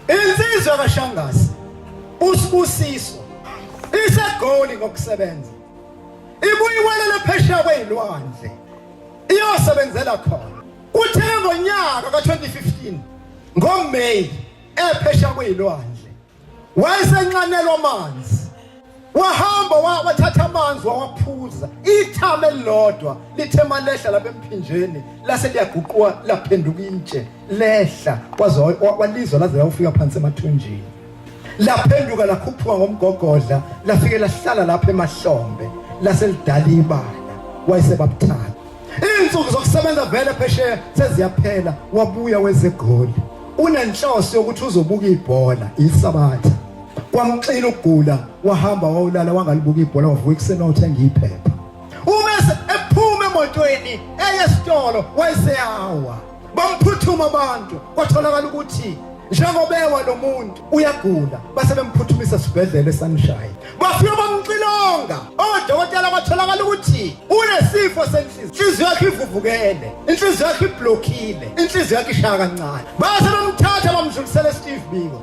Insizwa kaShangasi uSibusiso isegoli ngokusebenza ibuyiwelela phesheya kwezilwandle iyosebenzela khona uthe ngonyaka ka-2015 ngoMay ephesheya kwezilwandle wayesenxanelwa amanzi wahamba wa- wathatha amanzi wawaphuza ithama elilodwa lithe malehla lapha emphinjeni lase liyaguquka laphenduka intshe lehla waze wa- wa- walizwa laze lawufika phansi emathunjini laphenduka lakhuphuka ngomgogodla lafike lahlala lapha emahlombe lase lidala ibala wayesebabuthatha izinsuku zokusebenza vele phesheya seziyaphela wabuya wezegoli unenhloso yokuthi uzobuka ibhola isabatha kwamxina ukugula wahamba wawulala wangalibuka ibhola wavuka ekuseni wawuthenga iphepha uma ephuma emotweni eye esitolo wayeseyawa bamphuthuma abantu kwatholakala ukuthi njengobewa lo muntu uyagula base bemphuthumisa esibhedlela esanishaya bafika bamxilonga odokotela batholakala ukuthi unesifo senhliziyo inhliziyo yakhe ivuvukele inhliziyo yakhe iblokhile inhliziyo yakhe ishaya kancane base bamthatha bamdlulisela esteve biko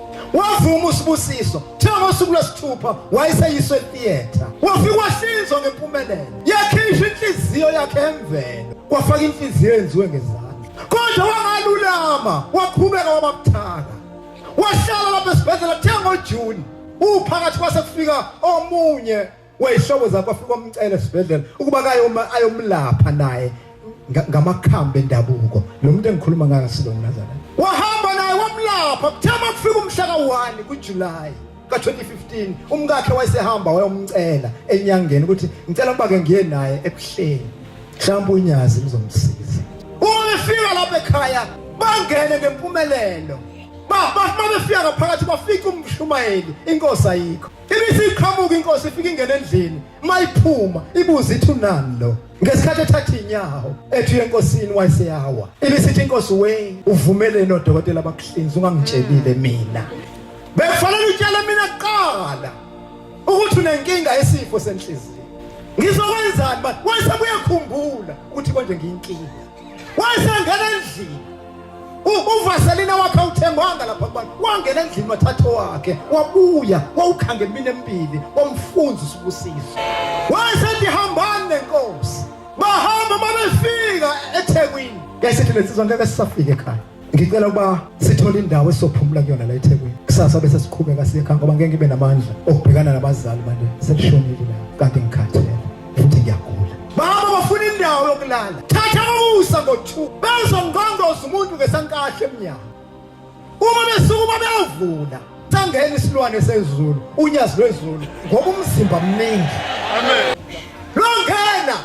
wavuma usibusiso thiwa ngosuku lwesithupha wayeseyiswe theatre wafika wahlinzwa ngempumelelo yakhishwa inhliziyo yakhe emvelo kwafaka inhliziyo yenziwe ngezandla kodwa wangalulama waqhubeka wabamthaka wahlala lapha esibhedlela thiwa ngojuni uphakathi kwase kufika omunye wayishoko zakho afika umcela esibhedlela ukuba kaye uma ayomlapha naye ngamakhambi endabuko lo muntu engikhuluma ngayo asilo mnazana wahamba naye wamlapha kuthama kufika umhla ka-1 kuJuly ka-2015 umkakhe wayesehamba wayomcela enyangeni ukuthi ngicela ukuba ke ngiye naye ebuhleni mhlawumbe unyazi ngizomsiza uma befika lapha ekhaya bangene ngempumelelo bafika ngaphakathi bafika umshumayeli inkosi ayikho Ibithi iqhamuka inkosi ifika ingena endlini mayiphuma ibuza ithi unani lo ngesikhathi ethatha inyawo ethi enkosini wayeseyawa ibisithi inkosi we uvumeleni odokotela abakuhlinza ungangitshelile mina bekufanele utshele mina kuqala ukuthi unenkinga yesifo senhliziyo ngizokwenzani manje wayesebuye khumbula ukuthi konje ngiyinkinga wayesengena endlini uvaselina wakhe awuthengwanga lapha kubantu wangena endlini wathatha wakhe wabuya wawukhanga emini emibili wamfunza usibusiso wayesethi hambani nenkosi bahamba uma befika ethekwini yayisethi lensizwa ngeke sisafike ekhaya ngicela ukuba sithole indawo esophumula kuyona la eThekwini kusasa bese siqhubeka siye ekhaya ngoba ngeke ngibe namandla okubhekana nabazali manje selishonile la kanti ngikhathele futhi ngiyagula baba bafuna indawo yokulala thatha ukusa ngo-2 bezongqondoza umuntu ngesankahle emnyango uma besukuma beyovula Thangeni isilwane sezulu, unyazi lwezulu ngoba umzimba mningi. Amen. Longena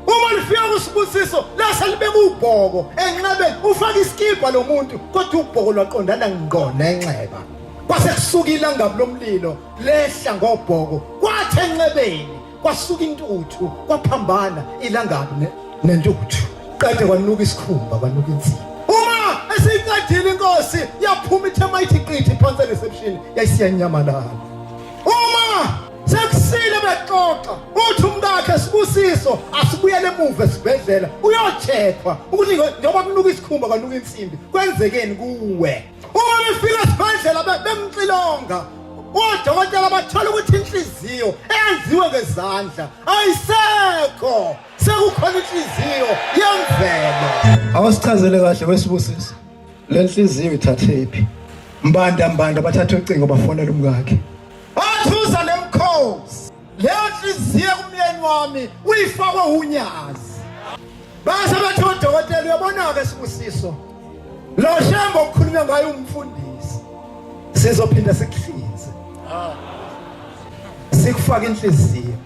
uma lifika kusibusiso lase libeka ubhoko enxebeni ufaka isikibha lo muntu kodwa ubhoko lwaqondana ngqo nenxeba. Kwase kusuka ilangabi lomlilo lehla ngobhoko kwathi enxebeni Kwasuka intuthu, kwaphambana ilangabi ne- nentuthu. Qede kwanuka isikhumba, kwanuka inzima. Uma esiyiqedile inkosi yaphuma ithe mayithi qithi phansi ereception yayisiyanyamalala. Uma sekusile bexoxa uthi umkakhe sibusiso asibuyele emuva esibhedlela uyocheckwa ukuthi ngo- njengoba kunuka isikhumba kwanuka insimbi kwenzekeni kuwe. uma befika esibhedlela be- bemxilonga odokotela bathola ukuthi inhliziyo eyenziwe ngezandla ayisekho sekukhona inhliziyo yemvelo Awusichazele kahle wesibusisi. Lenhliziyo ithathephi? Mbanda mbanda bathatha ucingo bafonela umkakhe. leyo nhliziyo kumyeni wami uyifakwe unyazi base bathi odokotela uyabona-ke sibusiso lo shembe okukhulunywe ngayo umfundisi sizophinde sikuhlinze sikufake inhliziyo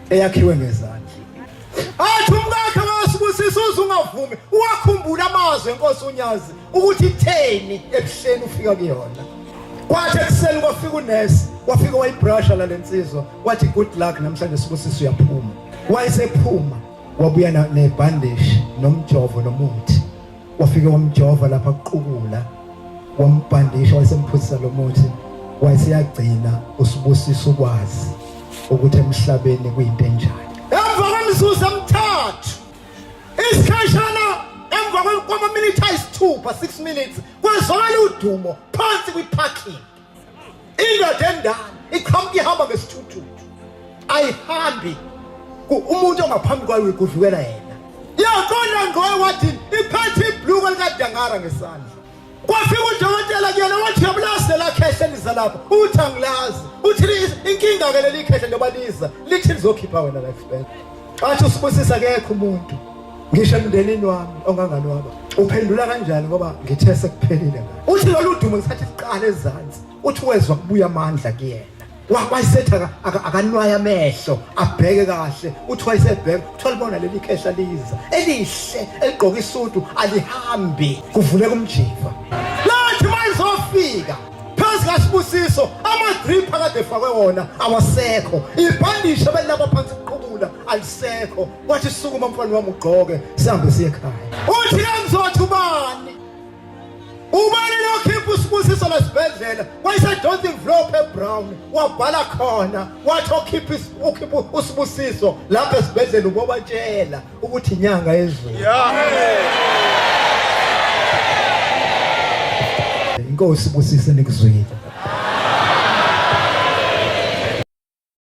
eyakhiwe ngezandla athi umkakhe wasibusisa uze ungavumi uwakhumbula amazwi enkosi unyazi ukuthi itheni ebuhleni ufika kuyona kwathi ekuseni kwafika unesi wafika wayibrasha la lensizwa wathi good luck namhlanje sibusisa uyaphuma wayesephuma wabuya nebhandishi nomjovo nomuthi wafike wamjova lapha kuqukula wambhandisha wayesemphuzisa lo muthi wayeseyagcina usibusisa ukwazi ukuthi emhlabeni kuyinto enjani emva kwemizuzu emithathu isikhashana emva kwamaminithi ayisithupha 6 minutes kwezwakala udumo phansi kwi-parking indoda endala iqhamuka ihamba ngesithuthuthu ayihambi umuntu ongaphambi kwayo uyigudlukela yena yaqonda ngqoe wathi iphethe ibhluko likadangara ngesandla kwafika udokotela kuyena wathi yabulazi lelakhehle liza lapha uthi angilazi uthi inkinga-ke leli khehle njengoba liza lithi lizokhipha wena la esibhedlela Wathi usibusisa kekho umuntu ngisho emndenini wami onganganwaba uphendula kanjani ngoba ngithe sekuphelile ngakho uthi lolu dumo ngisathi siqale ezansi uthi wezwa kubuya amandla kuyena wayisetha akanwaya amehlo abheke kahle uthi wayesebheka kuthiwa libona leli khehla liza elihle eligqoke isudu alihambi kuvuleka umjiva lathi mayizofika phansi kaSibusiso amadrip akade efakwe wona awasekho ibhandishe belilapha phansi kuqhubula alisekho wathi sukuma mfana wami ugqoke sihambe siye ekhaya uthi kangizothi ubani ubani lokhipha usibusiso lesibhedlela wayesejonsa imvlophu ebrown wabhala khona wathi okhipha usibusiso lapha esibhedlela ubobatshela ukuthi inyanga yezulu inkosi busise nikuzwile